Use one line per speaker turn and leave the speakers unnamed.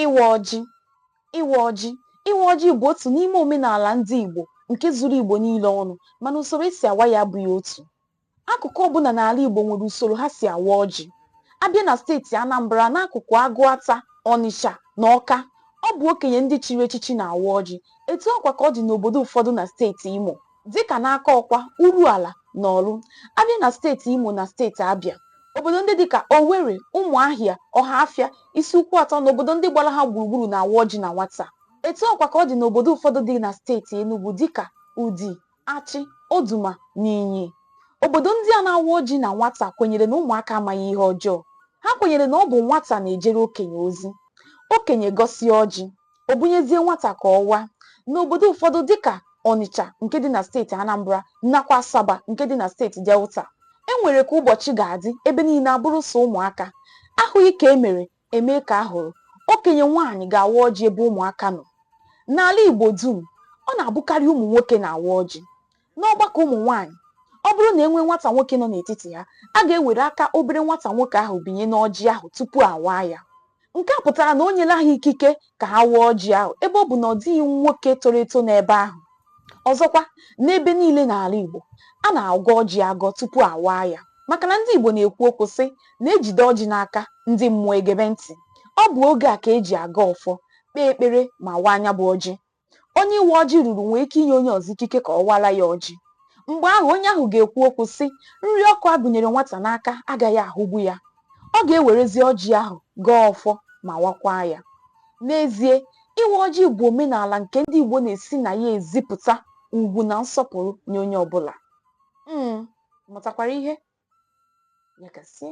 Ịwa ọjị Ịwa ọjị Ịwa ọjị bụ otu n'ime omenala ndị Igbo nke zuru Igbo niile ọnụ mana usoro e si awa ya abụghị otu. Akụkụ ọbụla n'ala Igbo nwere usoro ha si awa ọjị. A bịa na steeti Anambra n'akụkụ Agụata, Ọnịcha na Ọka, ọ bụ okenye ndị chiri echichi na-awa ọjị. Etu ahụkwa ka ọ dị n'obodo ụfọdụ na steeti Imo. dịka n'Akọkwa Uruala na Ọlụ a bịa na steeti Imo na steeti Abịa obodo ndị dịka Owerri Ụmụahịa Ọhafịa Isuikwuatọ na obodo ndị gbara ha gburugburu na-awa ọjị na nwata etu ahụkwa ka ọ dị n'obodo ụfọdụ dị na steeti Enugu dịka Udi Achị Oduma na Inyi obodo ndị a na-awa ọjị na nwata kwenyere na ụmụaka amaghị ihe ọjọọ ha kwenyere na ọ bụ nwata na-ejere okenye ozi okenye gọsịa ọjị o bunyezie nwata ka ọ waa. N'obodo ụfọdụ dịka Ọnịcha nke dị na steeti Anambra nakwa Asaba nke dị na steeti Delta, e nwere ka ụbọchị ga-adị ebe niile abụrụ sọ ụmụaka. A hụghị ka e mere, e mee ka a hụrụ. Okenye nwaanyị ga-awa ọjị ebe ụmụaka nọ. N'ala Igbo dum, ọ na-abụkarị ụmụ nwoke na-awa ọjị. N'ọgbakọ ụmụ nwaanyị, ọ bụrụ na e nwee nwata nwoke nọ n'etiti ha, a ga-ewere aka obere nwata nwoke ahụ binye n'ọjị ahụ tupu a waa ya. Nke a pụtara na o nyela ha ikike ka ha waa ọjị ahụ ebe ọ bụ na ọ dịghị nwoke toro eto n'ebe ahụ. Ọzọkwa, n'ebe niile n'ala Igbo, a na-agọ ọjị agọ tupu a waa ya maka na ndị Igbo na-ekwu okwu sị na e jide ọjị n'aka, ndị mmụọ egebe ntị. Ọ bụ oge a ka e ji agọ ọfọ, kpee ekpere ma waa ya bụ ọjị. Onye ịwa ọjị ruru nwee ike inye onye ọzọ ikike ka ọ wara ya ọjị. Mgbe ahụ, onye ahụ ga-ekwu okwu, sị, Nri ọkụ a gụnyere nwata n'aka agaghị ahụgbu ya. Ọ ga-ewerezi ọjị ahụ gọọ ọfọ ma wakwaa ya. N'ezie, ịwa ọjị bụ omenala nke ndị Igbo na-esi na ya ezipụta ugwu na nsọpụrụ nye onye ọ bụla. Ị mụtakwara ihe? Ya gazie.